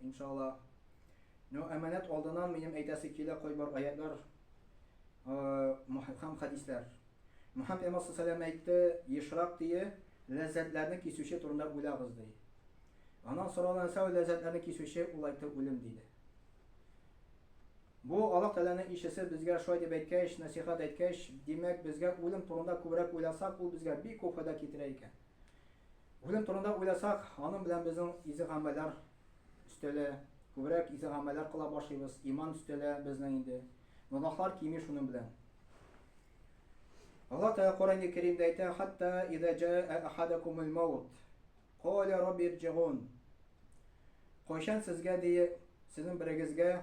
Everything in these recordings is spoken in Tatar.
Иншалла. Ну, әманәт алдыннан минем әйтәсе килә кайбер аятьләр һәм хәдисләр. Мөхәммәд пәйгамбәр саллаллаһу галәйһи ва сәлләм әйтте, ешрак тие, ләззәтләрне кисүче турында уйлагыз, ди. Аннан соралган нәрсә ул ләззәтләрне кисүче, ул әйтте, үлем, диде. Бу Аллаһ Тәгаләнең илчесе безгә шулай дип әйткәч, нәсыйхәт әйткәч, димәк, безгә үлем турында күбрәк уйласак, ул безгә бик күп файда китерә икән. Үзем турында уйласак, аның белән безнең изегамәлләр өстәлә, күбрәк изегамәлләр кыла башлыйбыз, иман өстәлә безнең инде. Гөнаһлар кими шуның белән. Аллаһ Тәгалә Коръәни Кәримдә әйтә, хәтта иза җаа ахадакумул маут, каля рабби ирҗигун. Кайчан сезгә дие, сезнең берегезгә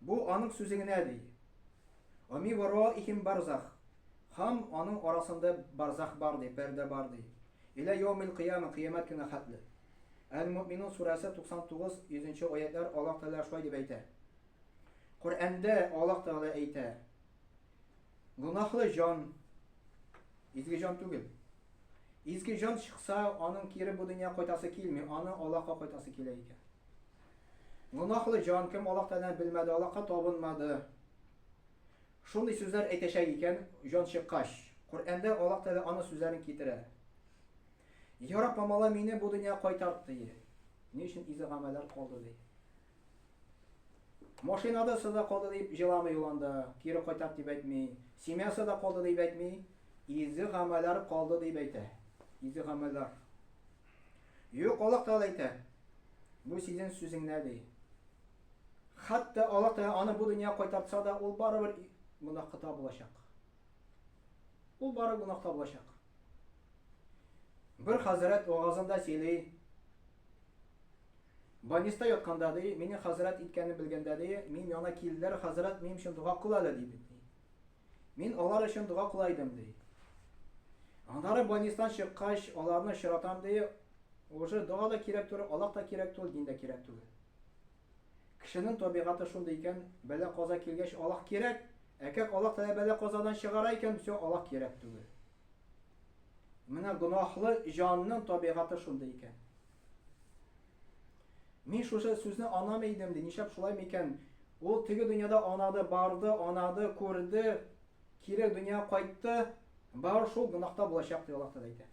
Бу аның сүзе генә, ди. Оми вороихим барзах, Һам аның арасында барзах бар, ди, пәрдә бар, ди. Илә йоумил кыяма, кыямәт көненә хәтле. Әл-Мөэминун сүрәсе 99, 100 аятьләр Аллаһ Тәгалә шулай дип әйтә. Коръәндә Аллаһ Тәгалә әйтә, Гөнаһлы җан, изге җан түгел. Изге җан чыкса, аның кире бу дөнья кайтасы килми, аны Аллаһка кайтасы килә икән. Гөнаһлы җан, кем Аллаһ Тәгаләне белмәде, Аллаһка табынмады. Шундый сүзләр әйтәчәк икән, җан чыккач. Коръәндә Аллаһ Тәгалә аның сүзләрен китерә. Я Рабб, мамала мине бу дөньяга кайтарт, ди. Ни өчен изге гамәлләр калды, ди. Машинада сыда калды дип җыламый ул анда, кире кайтарт дип әйтми. Семьясы да калды дип әйтми, изге гамәлләр калды дип әйтә. Изге гамәлләр. Юк, Аллаһ Тәгалә әйтә, Бу сизен сүзеңнәр, ди. Хәтта Аллаһ Тәгалә аны бу дөньяга кайтартса да, ул барыбер гөнаһкыта булачак. Ул барыбер гөнаһкыта булачак. Бер хәзрәт вагазында сөйли, Больниста ятканда, ди, мине хәзрәт иткәнен белгәндә, ди, минем яна килделәр, хәзрәт, минем өчен дога кыл әле, ди бит. Мин алар өчен дога кыла идем, ди. Аннары больнистан чыккач, аларны очратам, ди, уже дога да кирәк түгел, Аллаһ та кирәк түгел, дин дә кирәк түгел. Кешенең табигате шундый икән, бәла-каза килгәч, Аллаһ кирәк, ә как Аллаһ Тәгалә бәла-казадан чыгара икән, все, Аллаһ кирәк түгел. Менә гөнаһлы җанның табигате шундый икән. Мин шушы сүзне анам идем, ди, нишәп шулай микән? Ул теге дөньяда анады, барды, анады, күрде, кире дөнья кайтты, бар шул гөнаһта булачак, ди Аллаһ Тәгалә әйтә.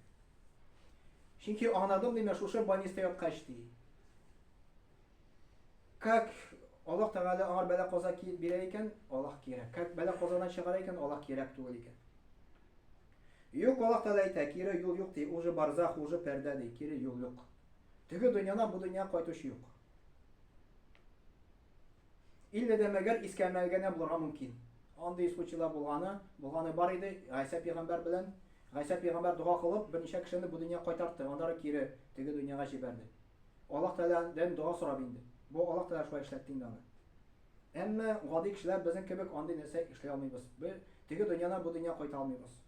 Чөнки анадым, димә, шушы больниста яткач, ди. Как Аллаһ Тәгалә аңар бәла-каза бирә икән, Аллаһ кирәк. Как бәла-казадан чыгара икән, Аллаһ кирәк түгел икән. Юк, Аллаһ Тәгалә әйтә, кире юл юк, ди, ул же барзах, ул же пәрдә, ди, кире юл юк. Теге дөньядан бу дөньяга кайтучы юк. Илле дә мәгәр искә мәлгәнә булырга мөмкин. Андый случайлар булганы, булганы бар иде, Гайсә пигамбәр белән. Гайсә пигамбәр дога кылып, берничә кешене бу дөньяга кайтартты, аннары кире теге дөньяга җибәрде. Аллаһ Тәгаләдән дога сорап инде. Бу Аллаһ Тәгалә шулай эшләтте инде аны. Әмма гади кешеләр безнең кебек андый нәрсә эшли алмыйбыз. Без теге дөньядан бу дөнья кайта алмыйбыз.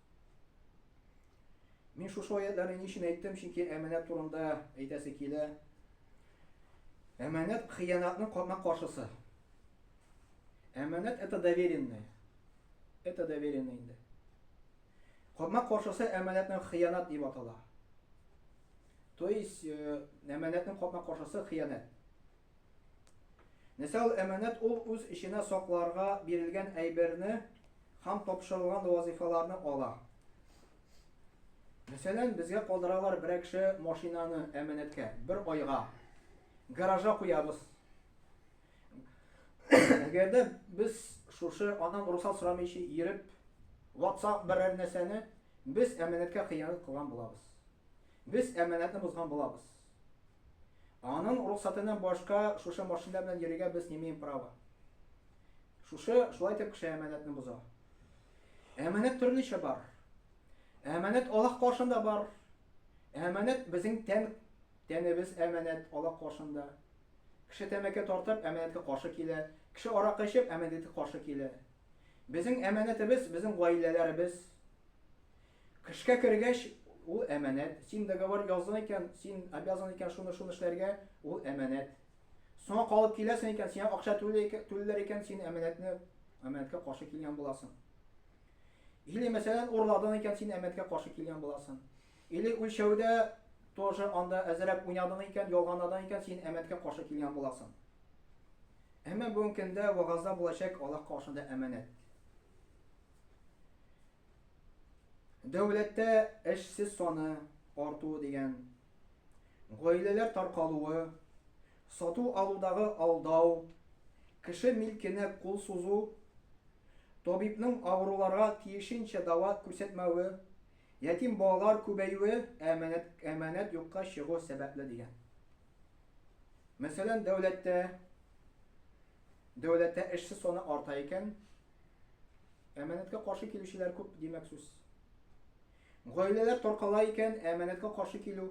Мин шушы аятьләрне ни өчен әйттем, чөнки әманәт турында әйтәсе килә. Әманәт хыянатның капма каршысы. Әманәт это доверенное. Это доверенное инде. Капма каршысы әманәтнең хыянат дип атала. То есть, э, әманәтнең капма каршысы хыянат. Нәсәл, әманәт ул үз эченә сакларга бирелгән әйберне һәм тапшырылган вазыйфаларны ала. Мәсәлән, безгә калдыралар берәкше машинаны әманәткә, бер айга. Гаража куябыз. Әгәр дә без шушы аннан русал сорамыйча йөреп, ватсак берәр нәрсәне, без әманәткә хыянәт кылган булабыз. Без әманәтне бозган булабыз. Аның рөхсәтеннән башка шушы машина белән йөрергә без не имеем права. Шушы шулай итеп кеше әманәтне боза. Әманәт төрлечә бар. Әманәт Аллаһ каршында бар. Әманәт безнең тән тәнебез әманәт Аллаһ каршында. Кеше тәмәке тартып әманәткә каршы килә. Кеше аракы эчеп әманәткә каршы килә. Безнең әманәтебез, безнең гаиләләребез. Кышка кергәч, ул әманәт. Син договор яздың икән, син обязан икән шуны шуны эшләргә, ул әманәт. Соңа калып киләсең икән, сиңа акча түләр икән, син әманәтне әманәткә каршы килгән буласың. Или мәсәлән, урладың икән, син әманәткә каршы килгән буласың. Или үлчәүдә тоже анда әзерәк уйнадың икән, ялганладың икән, син әмәткә каршы килгән буласың. Әмма бүген көндә вагазда булачак Аллаһ каршында әманәт. Дәүләттә эшсез саны артуы дигән, гаиләләр таркалуы, сату-алудагы алдау, кеше милкенә кул сузу, табибның авыруларга тиешенчә дава күрсәтмәве, Ятим балалар күбәюе әманәт, әманәт юкка чыгу сәбәпле дигән. Мәсәлән, дәүләттә, дәүләттә эшсез саны арта икән, әманәткә каршы килүчеләр күп, димәк сүз. Гаиләләр таркала икән, әманәткә каршы килү.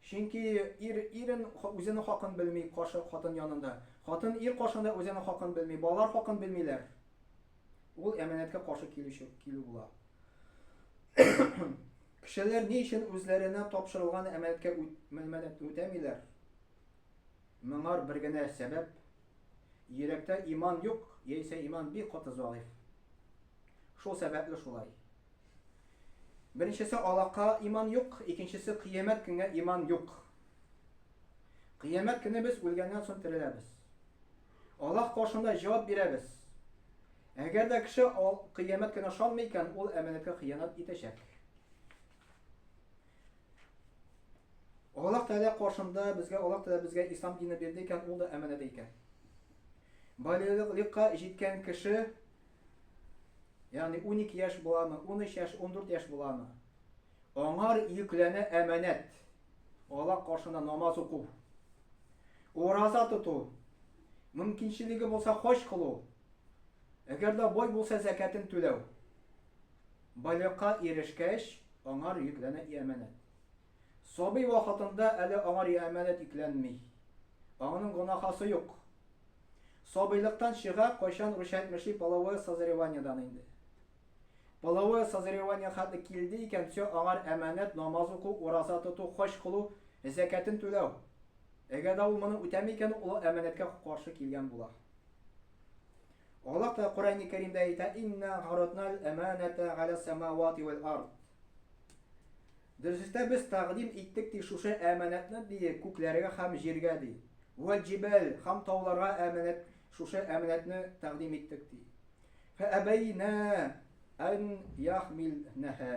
Чөнки ир ирен үзенең хакын белми, каршы хатын янында. Хатын ир каршында үзенең хакын белми, балалар хакын белмиләр. Ул әманәткә каршы килүче килү була. Кешеләр ни өчен үзләренә тапшырылган әмәлкә үтәмиләр? Моңар бер генә сәбәп. Йөрәктә иман юк, яисә иман бик каты зәгыйфь. Шул сәбәпле шулай. Беренчесе алака иман юк, икенчесе кыямәт көнгә иман юк. Кыямәт көне без үлгәннән соң тереләбез. Аллаһ каршында җавап бирәбез. Әгәр дә кеше кыямәт көне ышанмый икән, ул әманәткә хыянәт итәчәк. Аллаһ Тәгалә каршында безгә Аллаһ Тәгалә безгә ислам дине бирде икән, ул да әманәдә икән. Балигълыкка җиткән кеше, ягъни 12 яшь буламы, 13 яшь, 14 яшь буламы? Аңар йөкләнә әманәт, Алла каршында намаз уку, ураза тоту, мөмкинчелеге булса хаҗ кылу, әгәр дә бай булса зәкәтен түләү. Балигъка ирешкәч, аңар йөкләнә и әманәт. Сабый вакытында әле аңар и әманәт йөкләнми. Аңның гонахасы юк. Сабыйлыктан чыга, кайчан ручать мыши половое созреваниедан инде. Половое созревание хәтле килде икән, все, аңар әманәт, намаз уку, ураза тоту, хаҗ кылу, зәкятен түләү. Әгәр дә ул моны үтәми икән, ул олы әманәткә каршы килгән була. Аллаһ та Коръәни Кәримдә әйтә, Инна гаратнал әманәтә галә самавати вәл ард. Дөресрәктә без тәкъдим иттек ди шушы әманәтне ди күкләргә һәм җиргә ди. Вәл җибәл һәм тауларга әманәт Шушы әманәтне тәкъдим иттек, ди. Фәәбәйнә ән яхмилнәһә.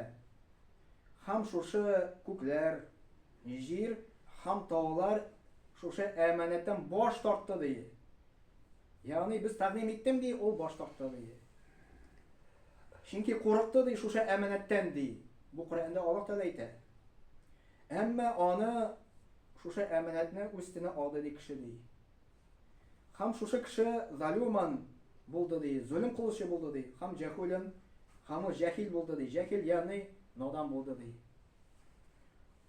Һәм шушы күкләр, җир һәм таулар шушы әманәттән баш тартты, ди. Ягъни без тәкъдим иттем, ди, ул баш тартты, ди. Чөнки курыкты, ди, шушы әманәттән, ди. Бу Коръәндә Аллаһ Тәгалә әйтә. Әмма аны шушы әманәтне үз өстенә алды, ди, кеше, ди. Хам шушы кеше залюман булды ди, зөлем кылучы булды ди, хам җәхүлен, хаму җәхил булды ди, җәхил ягъни надан булды ди.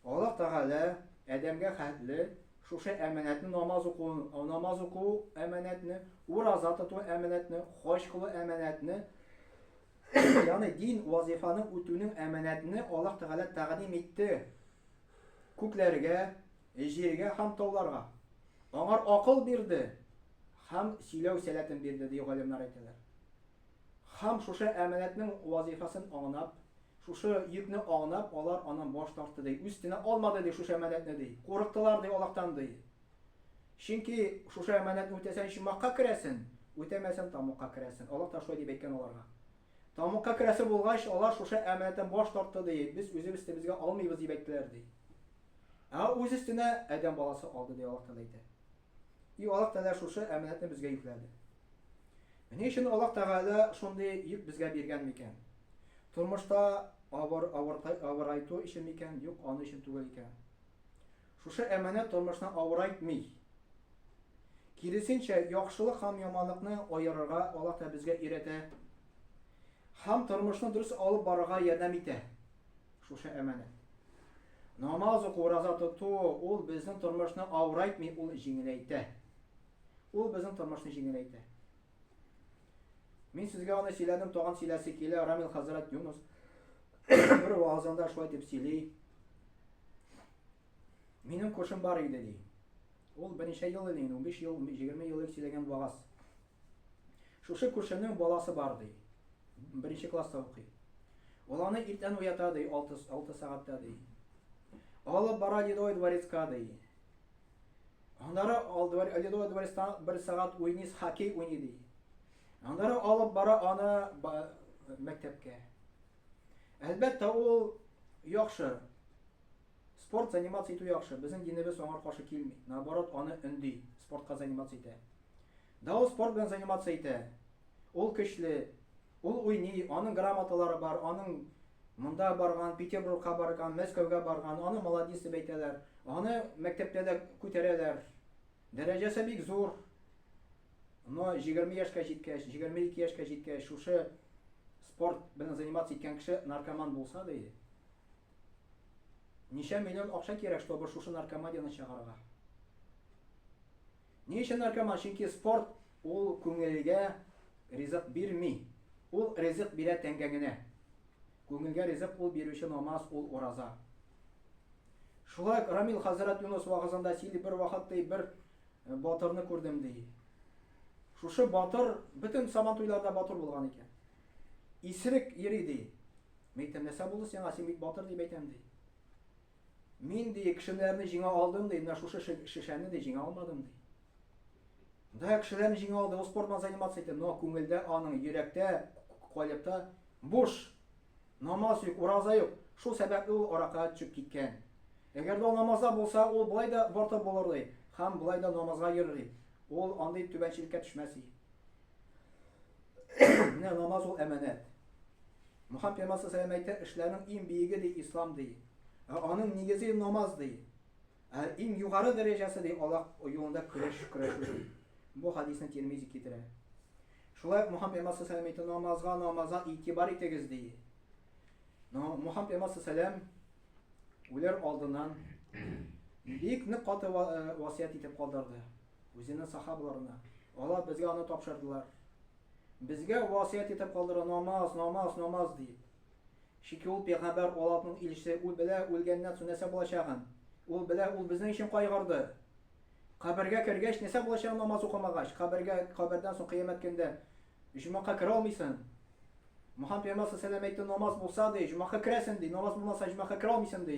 Аллаһ Тәгалә Адәмгә хәтле шушы әманәтне намаз уку, намаз уку әманәтне, ураза тоту әманәтне, хаҗ кылу әманәтне, ягъни дин вазифаны үтүнең әманәтне Аллаһ Тәгалә тәкъдим итте. Күкләргә, Җиргә һәм тауларга. Аңар акыл бирде һәм сөйләү сәләтен бирде, ди галимнар әйтәләр. Һәм шушы әманәтнең вазыйфасын аңнап, шушы йөкне аңнап, алар аннан баш тартты, ди. Үстенә алмады, ди, шушы әманәтне, ди. Курыктылар, ди, Аллаһтан, ди. Чөнки шушы әманәтне үтәсәң, чумакка керәсен, үтәмәсән, тамугка керәсен. Аллаһ та шулай дип әйткән аларга. Тамугка керәсе булгач, алар шушы әманәттән баш тартты, ди. Без үзебез тебезгә алмыйбыз, дип әйттеләр, ди. Ә үз өстенә адәм баласы алды, ди Аллаһ Тәгалә әйтә. И Аллаһ Тәгалә шушы әманәтне безгә йөкләде. Ни өчен Аллаһ Тәгалә шундый йөк безгә биргән микән? Тормышта авыр авырайту өчен микән? Юк, аны өчен түгел икән. Шушы әманәт тормышны авырайтмый. Киресенчә, яхшылык һәм яманлыкны аерырга Аллаһ Тәгалә безгә өйрәтә. Һәм тормышны дөрес алып барырга ярдәм итә. Шушы әманәт. Намаз уку, ураза тоту, ул безнең тормышны авырайтмый, ул җиңеләйтә. Ул безнең тормышны җиңеләйтә. Мин сезгә аны сөйләдем, тагын сөйләсе килә, Рамил хәзрәт Юнус бер вазында шулай дип сөйли. Минем кошым бар иде ди. Ул берничә ел инде, 15 ел, 20 ел сөйләгән вагаз. Шушы күршемнең баласы бар, ди. Беренче класста укый. Ул аны иртән уята, ди, алты, алты сәгатьтә, ди. Алып бара Ледовый дворецка, ди. Аннары Ледовый дворецта бер сәгать уйный, хоккей уйный, ди. Аннары алып бара аны мәктәпкә. Әлбәттә, ул яхшы Спорт заниматься итү яхшы, безнең динебез аңар каршы килми, наоборот аны өнди, спортка заниматься итә. Да ул спорт белән заниматься итә, ул көчле, ул уйный, аның грамоталары бар, аның монда барган, Петербургка барган, Мәскәүгә барган, аны молодец дип әйтәләр, аны мәктәптә дә күтәрәләр, дәрәҗәсе бик зур, но 20 яшькә җиткәч, 22 яшькә җиткәч, шушы спорт белән заниматься иткән кеше наркоман булса да, Ничә миллион акча кирәк, чтобы шушы наркоманияне чыгарырга? Ни өчен наркоман? Чөнки спорт ул күңелгә ризык бирми. Ул ризык бирә тәңгәңенә. Күңелгә ризык ул бирүче намаз, ул ураза. Шулай ук Рамил хәзрәт Юнус вагызында сөйли, бер вакыт ди, бер э, батырны күрдем ди. Шушы батыр бөтен сабан туйларда батыр булган икән. Исрек йөри, ди. Мин әйтәм, нәрсә булды сиңа, син бит батыр дип әйтәм, ди. Мин, ди, кешеләрне җиңә алдым, ди, менә шушы шешәне, ди, җиңә алмадым, ди. Да, кешеләрне җиңә алды, ул спорт белән заниматься итә, но күңелдә аның, йөрәктә, калепта буш, намаз юк, ураза юк, шул сәбәпле ул аракыга төшеп киткән. Әгәр дә намазда булса, ул болай да бортып булыр, ди, һәм болай да намазга йөрер, ди. Ул андый түбәнчелеккә төшмәс, ди. Менә намаз ул әманәт. Мухаммад пәйгамбәр саллаллаху әйтә, эшләрнең иң биеге ди ислам ди. Ә аның нигезе намаз ди. Ә иң югары дәрәҗәсе ди Аллаһ юлында көрәш көрәшү ди. Бу хадисны Тирмизи китерә. Шулай Мухаммад пәйгамбәр саллаллаху әйтә, намазга, намазга игътибар итегез ди. Но Мухаммад пәйгамбәр саллаллаху үләр алдыннан бик нык каты э, васыять итеп калдырды. Үзенең сахабаларына. Алар безгә аны тапшырдылар. Безгә васыять итеп калдыра намаз, намаз, намаз дип. Чики ул пәйгамбәр Аллаһның илчесе, ул белә үлгәннән соң нәрсә булачагын. Ул белә, ул безнең өчен кайгырды. Кабергә кергәч нәрсә булачагын намаз укымагач, кабергә кабердән соң кыямәт көндә җомакка керә алмыйсың. Мөхәммәд пәйгамбәр сәлам әйтте намаз булса ди, җомакка керәсең ди, намаз булмаса җомакка керә алмыйсың ди.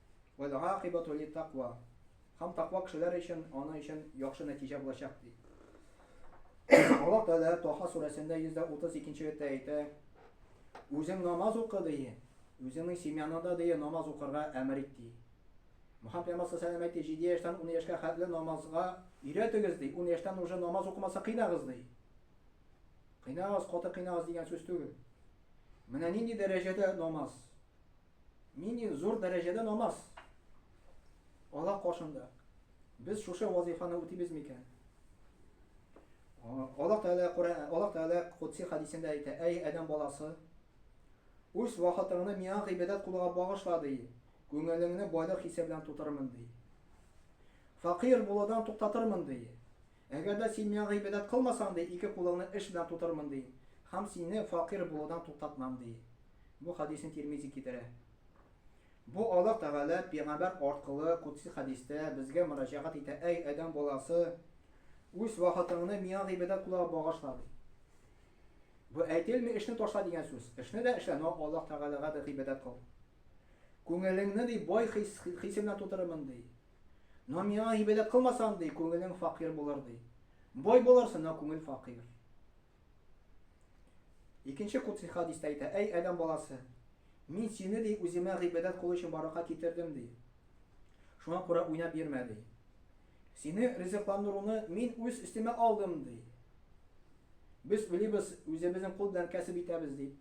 Вәл-гакыйбату лит-таква. Һәм таква кешеләр өчен аның өчен яхшы нәтиҗә булачак, ди. Аллаһ Тәгалә Таһа сүрәсендә 132 нче аятьтә әйтә, Үзең намаз укы, ди, үзеңнең семьяңа да, ди, намаз укырга әмер ит, ди. Мөхәммәд пәйгамбәр саллаллаһу галәйһи ва сәлләм әйтте, җиде яшьтән ун яшькә хәтле намазга өйрәтегез, ди, ун яшьтән уже намаз укымаса кыйнагыз, ди. Кыйнагыз, каты кыйнагыз дигән сүз түгел. Менә нинди дәрәҗәдә намаз. Нинди зур дәрәҗәдә намаз? Алла каршында. Без шушы вазифаны үтибез микән? Алла Тәгалә Коръән, Алла Тәгалә Кудси хадисендә әйтә, әй Адәм баласы, үз вакытыңны миңа гыйбадәт кылуга багышла, ди. Күңелеңне байлык хисе белән тутырырмын, ди. Факир булудан туктатырмын, ди. Әгәр дә син миңа гыйбадәт кылмасаң, ди, ике кулыңны эш белән тутырырмын, ди, һәм сине фәкыйрь булудан туктатмам, ди. Бу хәдисне Тирмизи китерә. Бу Аллаһ Тәгалә пигамбәр аркылы кудси хәдистә безгә мөрәҗәгать итә, Әй, адәм баласы, үз вакытыңны миңа гыйбадәт кылуга багышла, ди. Бу әйтелми эшне ташла дигән сүз. Эшне дә эшлә, но Аллаһ Тәгаләгә дә гыйбадәт кыл. Күңелеңне, ди, бай хис, хисе белән тутырырмын, ди. Но миңа һибәләк кылмасаң, ди, күңелең факир булыр, ди. Бай булырсың, но күңел факир. Икенче кутси хадистә әйтә, әй, адәм баласы, мин сине, ди, үземә гыйбадәт кылу өчен барлыкка китердем, ди. Шуңа күрә уйнап йөрмә, ди. Сине ризыкландыруны мин үз өстемә алдым, ди. Без уйлыйбыз, үзебезнең кул белән кәсеп итәбез, дип.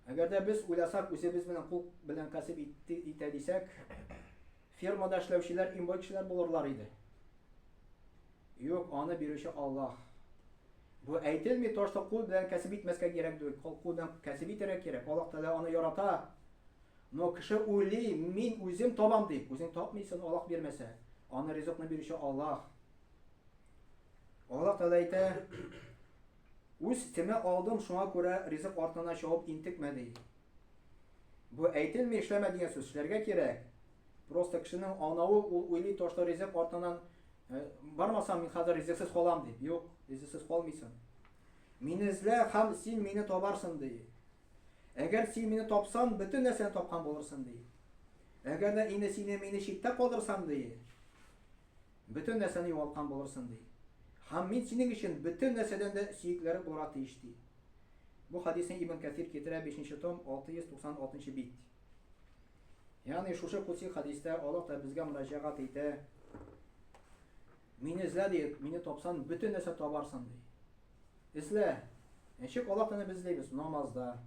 Әгәр дә без уйласак, үзебез белән кул белән кәсеп итә дисәк, фермада эшләүчеләр иң бай кешеләр булырлар иде. Юк, аны бирүче Аллаһ. Бу әйтелми то, что кул белән кәсеп итмәскә кирәк дип, кул белән кәсеп итәргә кирәк. Аллаһ Тәгалә аны ярата. Но кеше уйли, мин үзем табам дип, үзең тапмыйсың, Аллаһ бирмәсә. Аны ризыкны бирүче Аллаһ. Аллаһ Тәгалә әйтә, Үз тема алдым, шуңа күрә ризык артына чабып интекмә ди. Бу әйтелми эшләмә дигән сүз, эшләргә кирәк. Просто кешенең анавы, ул уйлый тошты ризык артыннан бармасам мин хәзер ризыксыз калам дип. Юк, ризыксыз калмыйсың. Мине эзлә һәм син мине табарсың ди. Әгәр син мине тапсаң, бөтен нәрсәне тапкан булырсың ди. Әгәр дә инде сине мине читтә калдырсаң ди. Бөтен нәрсәне югалткан булырсын, ди. Һәм мин синең өчен бөтен нәрсәдән дә сөеклерәк булырга тиеш, ди. Бу хәдисне Ибн Кәсир китерә, бишенче том, 696 нчы бит. Ягъни шушы кудси хәдистә Аллаһ та безгә мөрәҗәгать итә, Мине эзлә, ди, мине тапсан, бөтен нәрсә табарсың, ди. Эзлә! Ничек Аллаһ Тәгаләне без эзлибез? Намазда,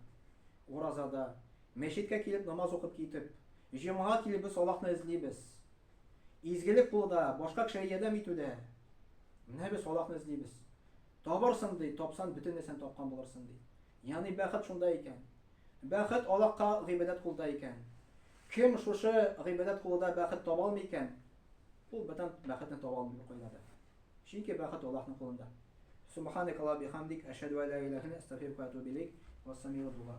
уразада, мәчеткә килеп намаз укып китеп, җомга килеп без Аллаһны эзлибез. Изгелек кылуда, башка кешегә ярдәм итүдә. Менә без Аллаһны эзлибез. Табырсың ди, тапсан бөтен нәрсәне тапкан булырсың ди. Ягъни бәхет шунда икән. Бәхет Аллаһка гыйбадәт кылуда икән. Кем шушы гыйбадәт кылуда бәхет таба алмый икән, ул бүтән бәхетне таба алмый бер кайда да. Чөнки бәхет Аллаһның кулында. Субханак Аллаһ бихамдик, әшһәду ла иляха илля астагфирука ва атубу илейк. Вассамигъ дуга.